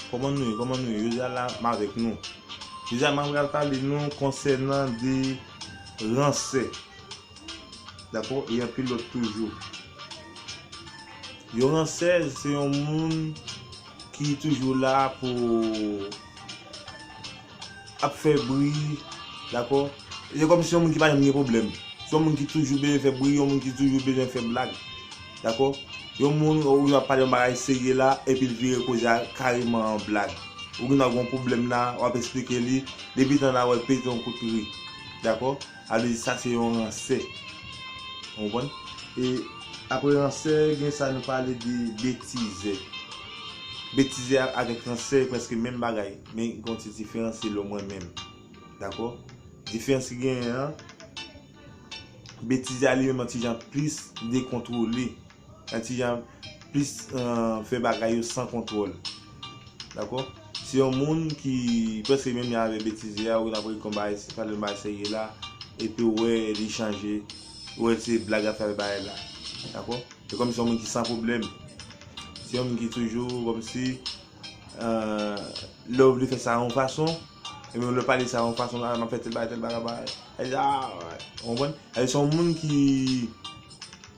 Kòman nou ye kòman nou ye jodi a la m avèk nou jodi a mwen pral pale nou konsènan de ransè dakò e anpil lòt toujou yon ransè se yon moun ki toujou la pou ap fè bri dakò se kòm si yon moun ki pa janm gen pwoblèm se yon moun ki toujou bezwen fè bri yon moun ki toujou bezwen fè blag dakò yon moun ou gen dwa ap pale yon bagay serye la epi l vire koze a kareman an blag ou gen dwa gen yon pwoblèm la w ap esplike li depi tan nan wè l pete yon kout ri dakò sa vle di sa se yon ransè ou konprann e apre ransè gen sa nou pale de betizè betizè avèk ransè se prèske menm bagay. Men gen yon ti diferans se lò mwen menm. Dakò? Diferans ki genyen an, Betize a li menm yon ti jan plis dekontwole. Yon ti jan plis fè bagay yo san kontwòl. Dakò? Se yon moun ki prèske menm jan avèk Betize a, ou wè l ap règle yon bagay, pale yon bagay serye la, epi ou wè li chanje, ou wè se blag l ap fè avèk bagay la. Dakò? Se kòmsi se yon moun ki san pwoblèm. Se yon moun ki toujou kòmsi Love li fè sa yon fason Ebyen ou lè pale sa yon fason la map fè tèl bagay tèl bagay bagay Sa di aah ou konprann Sa di se yon moun ki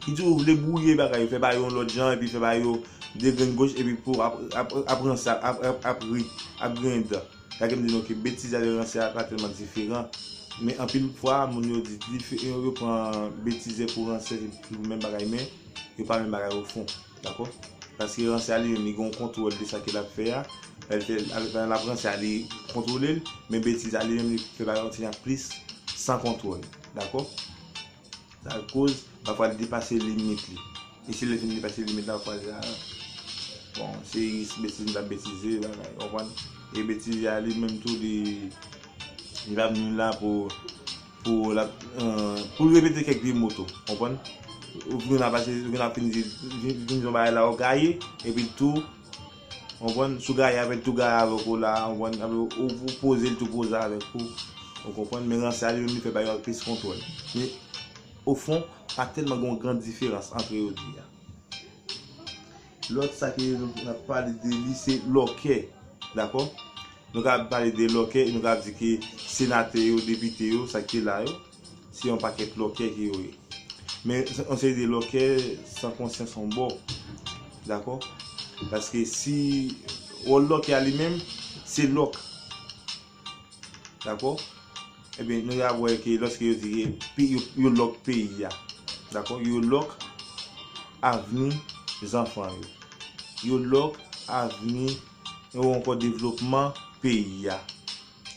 Ki toujou vle bwouye bagay yo fè bagay yo yon lòt jan epi fè bagay yo de grenn goch epi pou ap ap ranse ap ri ap griyen dan Sa ke m di nou ke betize avèk ranse a pa tèlman diferan Men anpil fwa moun yo di yo pran betize pou ranse se menm bagay men yo pa menm bagay ofon Dakò? Paske ransè a li menm li gen yon kontwòl de sa ke l ap fè a. Lè l fè l, alò pandan l ap ransè a li kontwole l, men betiz a li menm li fè bagay kontinye ak plis san kontwòl. Dakò? Sa koz pafwa l depase limit li. E si lè l fin depase limit la pafwa l la, bon se jis betiz m t ap betize bagay. Konprann? E betiz a li menm tou li li pa vini la pou. Pou lap poul repete kèk vye mo tou konprann ou vin ap pase ou vin ap fini vin son bagay la ou gaye epi tou konprann sou gaye avèl tou gaye avèk ou la konprann epi ou pozel tou poze avèk ou ou konprann men ranse a li menm li fè bagay yo ak plis kontwòl men ofon pa tèlman gen yon gran diferans antre yo 2 a. Lòt sa ke nou ka pale de li se lòkè. Dakò? Nou ka pale de lòkè e nou ka di ke senatè yo, depite yo, sa ki te la yo, se yon pakèt lòkè ke yo ye. Men yon seri de lòkè san konsyans yon bò. Dakò? Paske si wòl lòkè a li menm, se lòk. Dakò? Ebyen nou ya wè ke lòske yo di ke pi yo lòk peyi ya. Dakò? Yo lòk avni zanfan yo. Yo lòk avni ou ankò devlopman peyi ya.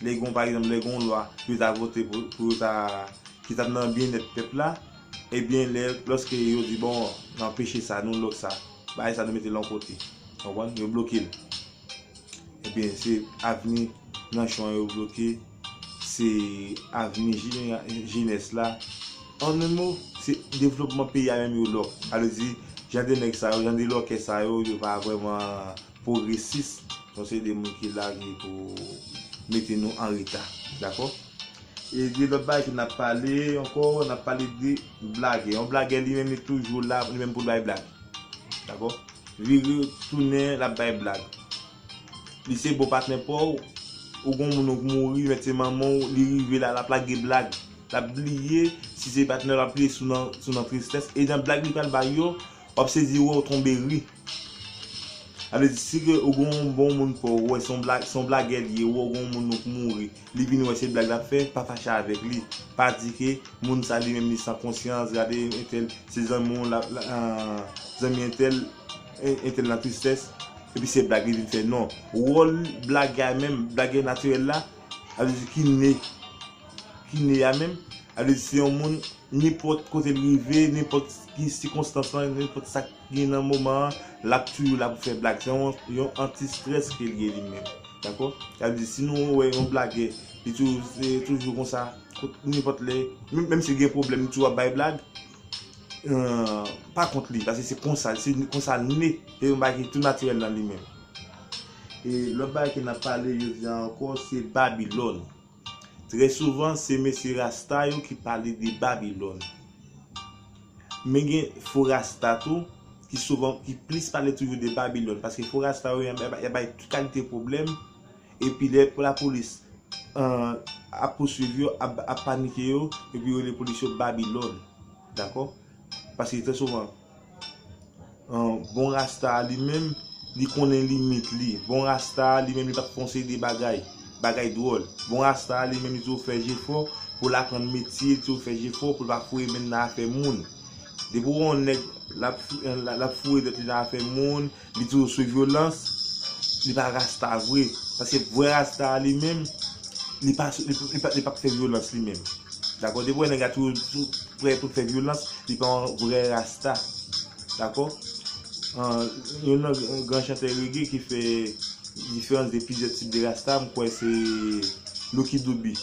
Lè gon pa egzanp lè gon lwa yo ta vote pou yo ta ki tap nan byen nèt pèp la, ebyen lè lòske yo di bon nan peche sa nou lòk sa, bagay sa nou mete lon kote. Konprann? Yo bloke l. Ebyen se avni Nanchon an yo bloke, se avni jenès la, an en mo, se devlopman peyi a menm yo lòk. Sa vle di, jan de nèg sa yo, jan de lòkè sa yo, yo pa vrèman pwogresis, nou se de moun ki la ki pou mete nou an reta. Dakò? E gen lòt bagay tou n ap pale ankò, n ap pale de blagè. Yon blagè li menm li toujou la li menm pou l bay blag. Dakò? Vire tounen lap bay blag. Li se bon patnè paw ou gon moun ou k mouri met se manmanw li rive la lap lage blag lap bliye si se patnè lap li sou nan sou nan tristès e nan blag li pral bay yo wap sezi wèw tonbe ri sa vle di si ke ou gon bon moun paw wè son blag son blagè li ye ou wè gon moun ou k mouri Li vin wè se blag lap fè, pa fache avèk li, pa di ke moun sa li menm li san konsyans, gade entèl se zanmi w lap zanmi entèl, entèl nan tristès epi se blag li vin fè non, wòl blagè a menm, blagè natirèl la, sa vle di ki ne, ki ne a menm, sa vle di se yon moun nenpòt kote l rive, nenpòt ki sikonstans lan, nenpòt sa. Ni nan moman an lap tuju la pou fè blag se yon anti stress kel ye li menm dakò sa vle di si nou wè yon blagè li tuju konsa nenpòt lè menm sil gen problèm li tuju ap bay blag pa kont li paske se konsa se konsal ne se yon bagay ki tou natirèl nan li menm e lòt bagay ke nap pale jodi a ankò se babilòn. Trè souvan se mesye rasta yo ki pale de Babilòn. Men gen fo rasta tou ki souvan ki plis pale toujou de Babilòn paske fo rasta yo ya bay tout kalite pwoblèm epi lè lapolis ap pouswiv yo, ap panike yo epi yo rele polis yo Babilòn. Dakò? Paske trè souvan. Bon rasta a li menm li konnen limit li Bon rasta a li menm li pa t fè yon seri de bagay Bagay dwòl Bon rasta a li menm li toujou fè jefò pou l aprann metye Li toujou fè jefò pou l pa foure men l nan afè moun Depi w wè yon nèg l ap foure tèt li nan afè moun Li toujou sou vyolans, li pa rasta vre, paske vrè rasta a li menm, li pa sou, li pap fè vyolans li menm. Dakò, depi ou wè nèg la toujou prè pou l fè vyolans, li pa yon vrè rasta. Dakò? Youn nan gran chantè rege ki fè diferans de plizyè tip de rasta, m kwè se Lucky Dube.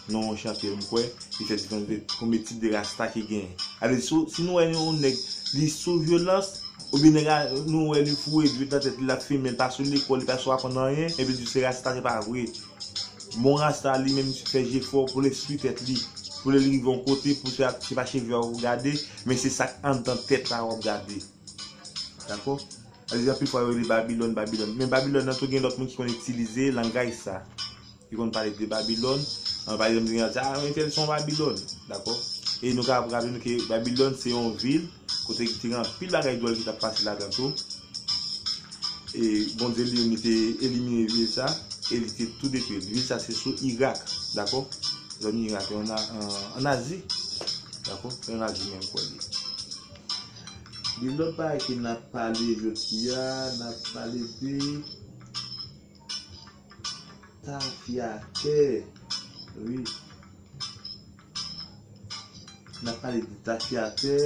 Non yon chantè m kwè, ki fè diferans de konbyen tip de rasta ki genyen. Sa vle di si nou wè yon nèg li sou vyolans, Ou byn nèg la nou wè li foure dwet nan tèt li lap fimen pa sou lekòl li pa sou aprann anyen epi li di se rasta se pa vre bon rasta li menm fè jefò poul enstwi tèt li poul rive yon kote pou se pa cheve a ou gade men se sak andan tèt la wap gade dakò anpil fwa yo rele babilòn babilòn men babilòn nan tou gen lòt moun ki konn itilize langaj sa. Li konn pale de Babilòn. Pa egzanp, gen yon ki di, a, entèl se yon Babilòn. Dakò? E nou kapab raple nou ke Babilòn se yon vil kote ki te gen anpil bagay dwòl ki t ap pase ladan tou. E Bondye li menm li te elimine vil sa e li te tou detwi l. Vil sa se sou Irak. Dakò? Zòn Irak yo ann Azi. Dakò? Se ann Azi menm kò l ye. Gen lòt bagay ke n ap pale jodi a. N ap pale de Tafyatè wi Nap pale de tafyatè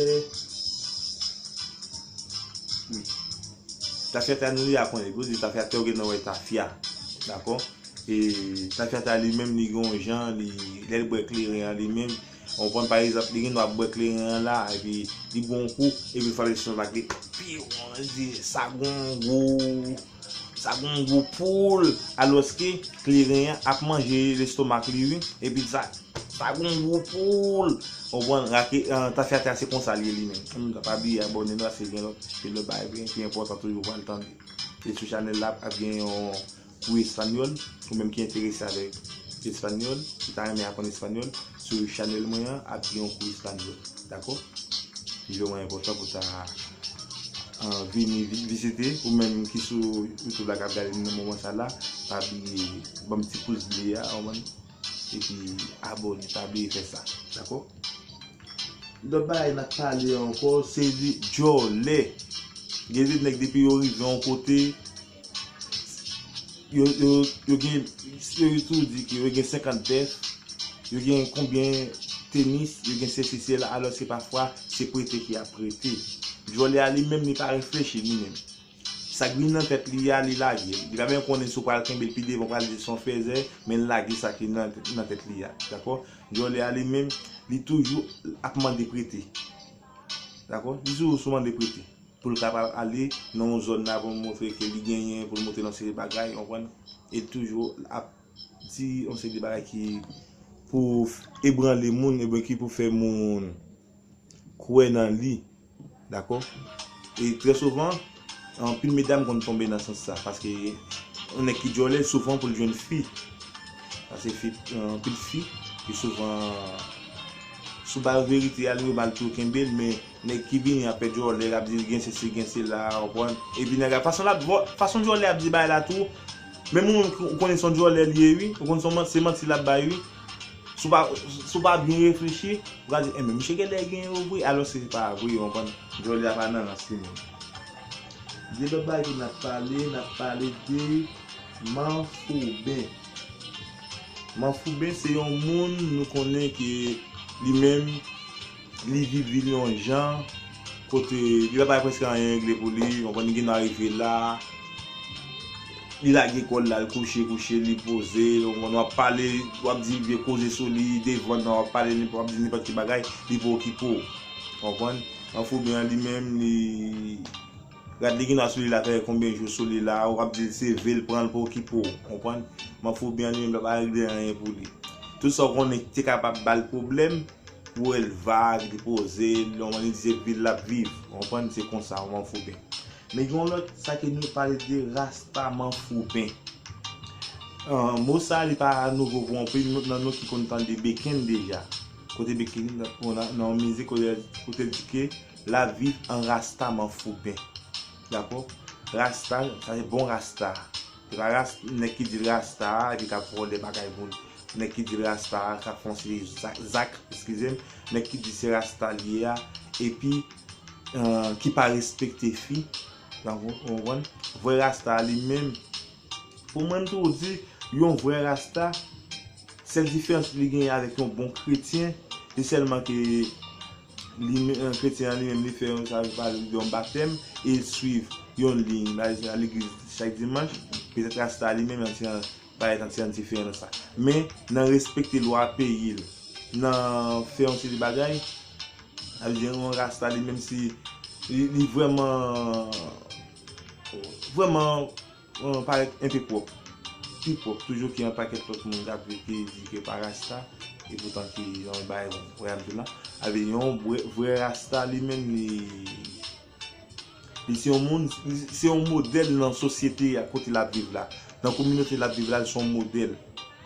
wi Tafyatè nou ya konnen pou di tafyatè ou gen nan wè tafya dakò e tafyatè li menm li gen yon jan li lèl bwè kleren an li menm ou konprann pa egzanp li gen dwa bwè kleren an la epi li bwè yon kou epi fòl estonmak li pi won li di sa gen yon gou. Sa gon gou poul alòske kleren an ap manje lestomak li wi epi sa sa gon gou poul ou konprann rake tafyatya se konsa li ye li menm annou ta pa bliye abòne nou aske gen lòt gen lòt bagay vre ki enpòtan toujou pral tande e sou chanèl la ap gen yon kou espanyòl ou menm ki enterese avèk espanyòl ou ta renmen aprann espanyòl Sou chanel mwen an ap gen yon kou espanyòl dakò li vreman enpòtan pou ta vini vizite ou menm ki sou youtube la kap gade m nan moman sa la pa bliye banm ti pous ble a ou konprann epi abòne pa bliye fè sa dakò lòt bagay nap pale ankò se de djòlè gen de nèg depi yo rive yon kote. Yo gen seyoutou di ki yo gen 50 bèf, yo gen konbyen tenis, yo gen sesi sela alòske pafwa se prete ki ap prete. Vòlè a li menm li pa reflechi li menm. Sa k vin nan tèt li a li lage l. Li pa menm konnen si w pral kenbe l pi devan ou pral di son fèzè men l lage sa ki nan tèt li a. Dakò? Vòlè a li menm li toujou ap mande prete. Dakò? Li toujou sou mande prete. pou l kapab ale nan yon zòn la pou l montre ke li genyen, pou l montre l yon seri de bagay, ou konprann, e l toujou ap di yon seri de bagay ki pou ebranle moun oubyen ki pou fè moun kwè nan li, dakò, e trè souvan anpil medam konn tonbe nan sans sa, paske yon nèg ki djòlè souvan pou l jwenn fi, paske fi, anpil fi, pi souvan si w ba yo verite a, yo ba l tou, kenbe l men. Nèg ki vini ap fè djòlè lap di gen sesi gen sela ou konprann epi nèg la fason lap fason djòlè ap di bagay la tou menm ou menm ou konnen son djòlè li ye ui ou konn son se manti lap bay ui si w pa si w pa byen reflechi ou ka di enben misye genlè gen yo vre alòske se pa vre ou konprann. Djòlè a pa nan rans li menm. De lòt bagay tou nap pale nap pale de manfouben manfouben se yon moun nou konnen ke li menm Li vit vi l yon jan, kote li pa bay prèske anyen regle pou li, ou konprann, li gen dwa rive la, li lage kò l la, l kouche, kouche, li poze, ou konprann, w ap pale, w ap di vye koze sou li, devan nan w ap pale, w ap di nenpòt ki bagay, li pa okipe w, ou konprann. Anfoube an li menm, li, rad li gen dwa sou li la fè konbyen jou sou li la, ou ap di l seve l, pran l, pa okipe w, ou konprann. Manfouben an li menm li pa bay regle anyen pou li. Tout sa ou konnen ki te kapab ba l pwoblèm, Pou el vag, li poze, lè manman li di se vil lap viv. Ou konprann se konsa yon manfouben. Men gen yon lòt sa ke nou pale de rasta manfouben. Mo sa li pa nouvo pou anpil nan nou ki konn tande Beken deja. Kote Beken nan yon mizik kote l di ke lap viv an rasta manfouben. Dakò? Rasta sa se bon rasta. Raras nèg ki dil rasta a epi kap vòlè bagay moun nèg ki dil rasta a kap fè yon seri zak eskizem nèg ki di se rasta li ye a epi ki pa respekte fi ou konprann vrè rasta a li menm pou mwen m toujou di yon vrè rasta sèl diferans li genyen avèk yon bon kretyen se sèlman ke Kretyen an li menm li fè yon sa yo pale de yon batèm e l swiv yon liy l al legliz chak dimanch petèt rasta li menm ti jan pa yon ti jan diferan nan sa men nan respekte lwa peyi l nan fè yon seri bagay sa vle di yon rasta li menm si li vrèman vrèman Bon parèt enpe pwòp, pi pwòp toujou ke yon pakèt lòt moun kap viv ki di ke pa rasta, e poutan ki yon bagay wè Abdoula, avè yon vrè rasta li menm li li se yon moun, li se yon modèl nan sosyete a kote lap viv la, nan kominote lap viv la li se yon modèl,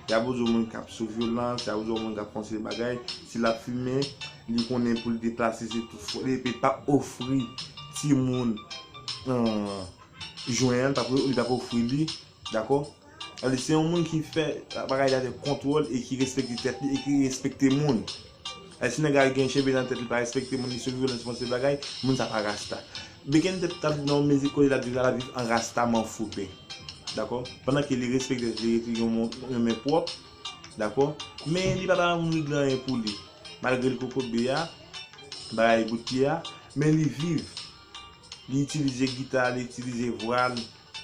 yap wè yon moun kap sou vyolans, yap wè yon moun kap fè yon seri bagay, si lap fimen, li konnen poul deplase se tout fwa, li pap ofri timoun. jwen an li tap ofri li dakò sadi se yon moun ki fè bagay li avèk kontwòl e ki respekte tèt li e ki respekte moun e si nèg a gen cheve nan tèt li pa respekte moun li sou vyolans fon seri bagay moun sa pa rasta beken tèt tap di nan yon mizik kote lap di lap viv an rasta m'en foupe dakò pandan ke li respekte tèt li rete yon men pwòp dakò men li pa bay moun regle anyen pou li malgre li kokobe a bagay bout pye a men li viv. Li itilize gita, li itilize vwa l,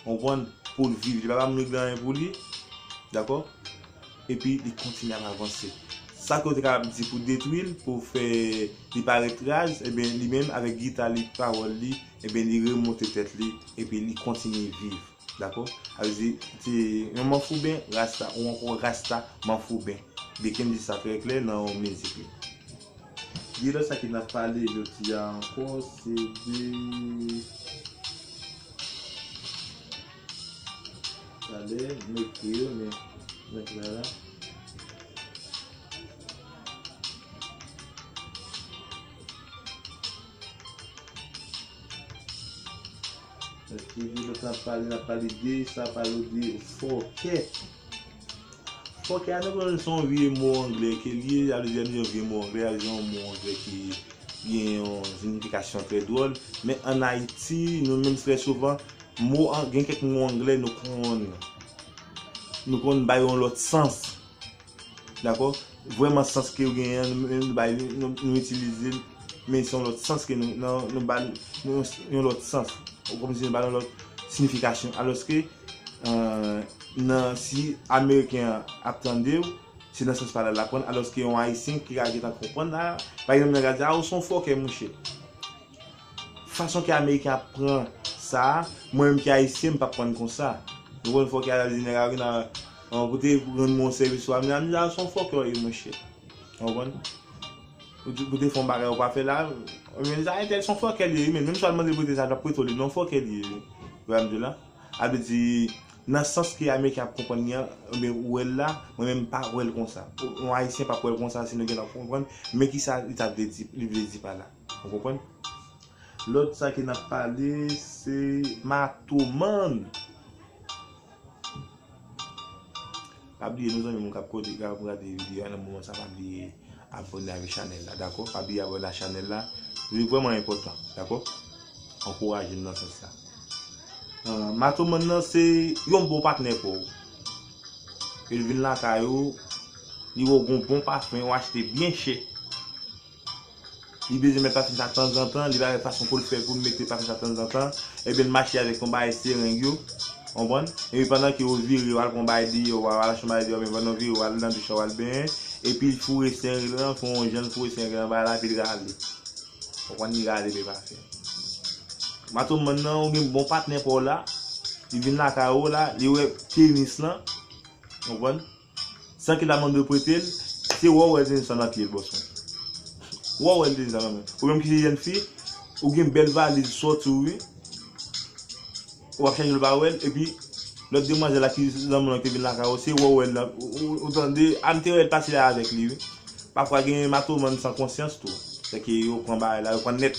ou konprann, pou l viv. Li pa ba moun yo ki gen anyen pou li, dakò? Epi li kontinye ap avanse. Sa ke yo te kapab di pou detwi l, pou fè li pa ret raz, eben, li menm avèk gita li, pawòl li, eben, li remonte tèt li, epi li kontinye viv. Dakò? Sa vle di, yon manfouben rasta ou ankò rasta manfouben. Beken di sa trè klè nan yon mizik li. Li lò sa ki nap pale jodi a ankò se de Talè m ekri yo men mwen k la la. Eske je nou tap pale nap pale de sa pale ou de fòkè. Fòkè a nou konnen son vye mo anglè ke li ye, sa vle di an nou di yon vye mo anglè, sa vle di yon mo anglè ki gen yon zinifikasyon trè dwòl, men an Ayiti nou menm trè souvan mo gen kèk mo anglè nou konn nou konn bay yon lòt sans. Dakò? Vrèman sans ke yo genyen an, nou menm nou bay li, nou itilize l, men se yon lòt sans ke nou, nan, nou ba l yon lòt sans. Kòm si nou ba l yon lòt sinifikasyon. Alòske, nan, si Ameriken an ap tande w, se nan sans pale a l ap pran l, alòske yon Ayisyen ki ka gentan konprann la, pa egzanp nan ka di, a ou se yon fòkè mouche. Fason ke ameriken ap pran sa, mwen menm ki ayisyen m pap prann konsa. Nou konn fòkè ala di nèg a vin a koute rann mwen yon sèvis ou amenan amenan a son fòkè ou ye monchè. Ou konprann? Ou te fè yon bagay ou pa fè la, men sa entèl son fòkè li ye wi menn. Menm si w al mande prete sa l pap prete w li non fòkè li ye wi. Ou wè sa m di w la? A vle di nan sans ke ameriken ap konprann li an ebyen ou wè l la, mwen menm m pa wè l konsa. Yon ayisyen pap wè l konsa si nou gen tan konprann men kisa li ta vle di, li vle di pa la. Ou konprann? Lòt sa ke nap pale se matoman. Pa bliye nou zanmim kap kote kap gade video a nan moman sa pa bliye abòne avèk chanèl la dakò pa bliye abòne ak chanèl la li vrèman enpòtan dakò ankourajem nan sans la matoman nan se yon bon patnè pouw lè l vin lakay ou li wè w gon bon pafen ou achte byen chè Li bezwen met pafim sa tanzantan, li pa wè fason poul fè poul mete pafim sa tanzantan, ebyen l mache avèk yon bagay sereng yo, konprann, epi pandan ke ou vire wal pran yon bagay deyò wa al chanm bagay deyò men pandan ou vire wal nan douch la wal benyen, epil foure sereng lan fon yon janl foure sereng lan bagay la epil rale, konprann li rale men pafim. Matoman nan ou gen bon patnè paw la, li vin lakay ou la, li wè penis lan, konprann. San ki la moun dwe prete l, se wè w wè zen san nan pye l bòs mwen. Wè w wè l deja nan men. Ou menm ki se jèn fi, ou gen bèl valiz sò sou ou wi. Ou ap chèche l pa wè l epi lòt demwazèl la ki nan moun lan ki te vin lakay ou se wè w wè l nan ou tande a m te wè l pase lè avèk li wi. Pafwa gen matoman san konsyans tou. Sèke yo pran bagay la, yo pran nèt.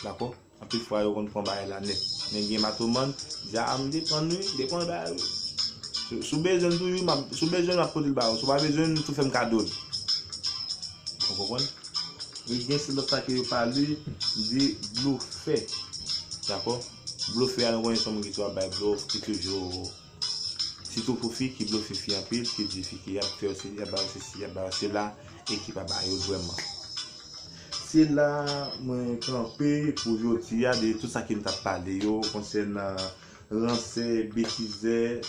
Dakò? Anpil fwa yo konn pran bagay la nèt. Men gen matoman, di a m depann wi, depann bagay wi. Si w bezwen l toujou, si w bezwen l m ap pote l ba ou, si w pa bezwen l tou fè m kado l. Ou konprann? E gen se lòt sa ke yo pale de blofè. Dakò? Blofè a nou konnen se yon moun ki toujou ap bay blof, ki toujou. Sitou pou fi ki blofe fi anpil ki di fi ke yap fè yo se yap ba yo sesi yap ba yo sela e ki pa ba yo vrèman. Se la mwen kanpe pou jodi a de tout sa ke m tap pale yo konsènan ransè, betizè,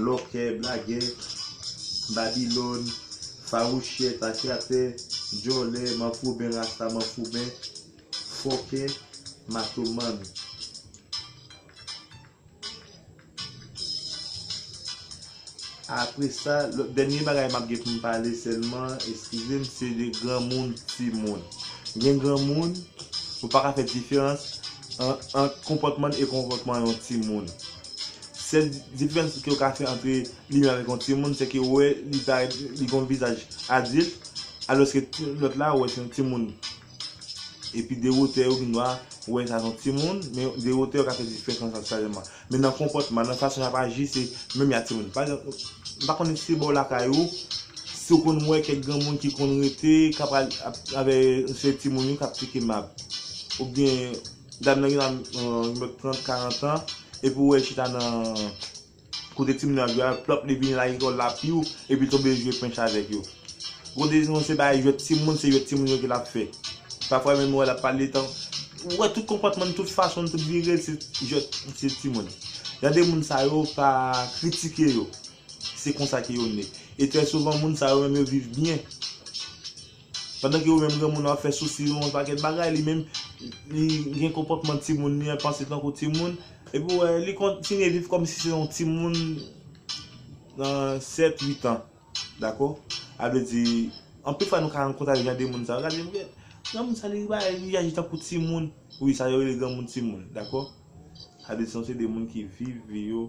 lòkè, blagè, babilòn, fawouchè, takyatè, djòlè, manfouben, rasta manfouben, fòkè, matomann. Apre sa, lòt dènye bagay m ap gen pou m pale sèlman, eskize m, se de granmoun, timoun. Gen granmoun, ou pa ka fè diferans ant konpòtman l e konpòtman yon timoun. Sèl diferans ke ou ka fè antre li menm avèk yon timoun, se ke ou wè li gen yon vizaj adilt, alòske lòt la ou wè se yon timoun. Epi de wotè yo gnwa ou wè sa son ti moun, men de wotè yo ka fè diferans ant sa jèman. Men nan konpòtman, nan fason yap aji se menm ya ti moun. Pa egzanp, m pa konnen si se bò lakay ou, si ou konn wè kèk granmoun ki konn rete, ka pral ap avè se ti moun yo kap teke mab. Ou byen dam nan gnwa gen 30, 40 an, epi ou wè li chita nan Kote timoun yo ap jwe a, plòp li vini lage kò l la piu epi tonbe jwe pench avèk yo. Kote se yon se bagay jwèt timoun, se jwèt timoun yo ke l ap fè. Pafwa menm ou wè l ap pale tan, ou wè tout konpòtman l, tout fason l, tout vire l se jwèt se timoun. Jan de moun sa yo pa kritike yo, se konsa ke yo ne. E trè souvan moun sa yo menm yo viv byen. Pandan ke ou menm granmoun ou ap fè sousi yon pakèt bagay, li menm li gen konpòtman timoun, li panse tankou timoun, epi ou wè li kontinye viv kòmsi se yon timoun nan 7, 8 an. Dakò? A vle di, anpil fwa nou ka rankont avèk jan de moun sa yo, gade m, granmoun sa li bay, li aji tankou timoun. Wi, sa yo rele granmoun timoun. Dakò? Sa vle di nou se de moun ki viv vi yo,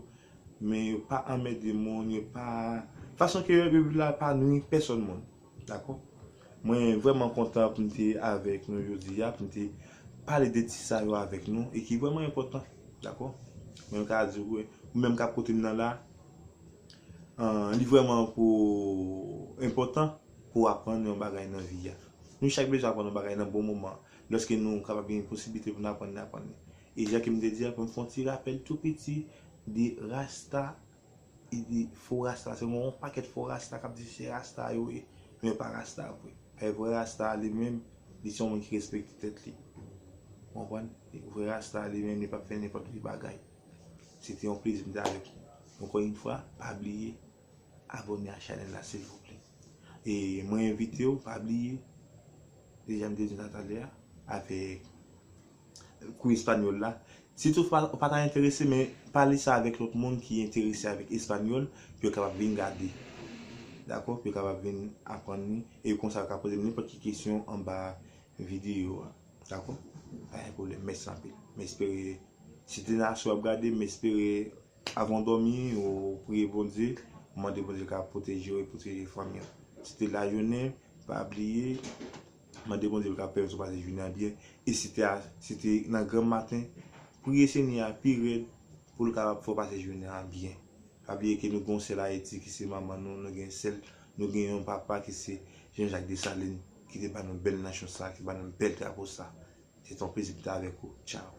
men yo pa anmède moun, yo pa, fason ke yo viv la pa nwi pèsòn moun. Dakò. Mwen vrèman kontan pou m te avèk nou jodi a, pou m te pale de ti sa yo avèk nou e ki vrèman enpòtan. Dakò. Mwen ka di ou, ou menm k ap koute m nan la, li vrèman pou enpòtan pou w aprann yon bagay nan vi a. Nou chak bezwen aprann yon bagay nan bon moman an. Lòske nou kapab gen posiblite pou n aprann, n aprann. E jan ke m te di a, pou m fè yon ti rapèl tou piti de Rasta Li di fo rasta se yon pakèt fo rasta kap di se rasta yo ye men yo pa rasta vre. Paske vrè rasta a li menm li se yon moun ki respekte tèt li. Ou konprann? Vrè rasta a li menm li pap fè nenpòt ki bagay. Se te yon plezi m te avèk nou. Ankò yon fwa pa bliye abòne a chanèl la silvouplè. E mwen envite w pa bliye deja m te di w sa talè a avèk. kou espanyòl la. Si tou fwa ou pa ta enterese men pale sa avèk lòt moun ki enterese avèk espanyòl pou yo kapab vin gade. Dakò? Pou yo kapab vin aprann li e kon sa yo ka poze m nenpòt ki kesyon anba videyo a. Dakò? Pa gen pwoblèm. Mèsi anpil. M espere si de Nacho w ap gade, m espere avan w dòmi ou priye Bondye, ou mande Bondye l kapab pwoteje w e pwoteje fanmi w. Si de lajounen, pa bliye. Mande Bondye pou l ka pèmèt ou pase jounen an byen. E si te a, se te nan granm maten, priye Senyè a pi rèd pou l kapab fè w pase jounen an byen. Pa bliye ke nou gen yon sèl Ayiti ki se manman nou, nou gen sèl, nou gen yon papa ki se Jean Jacques Dessalines ki te ba nou bèl nanchon sa, ki ba nou bèl drapo sa. Se te yon plezi pou m te avèk ou. Tchao!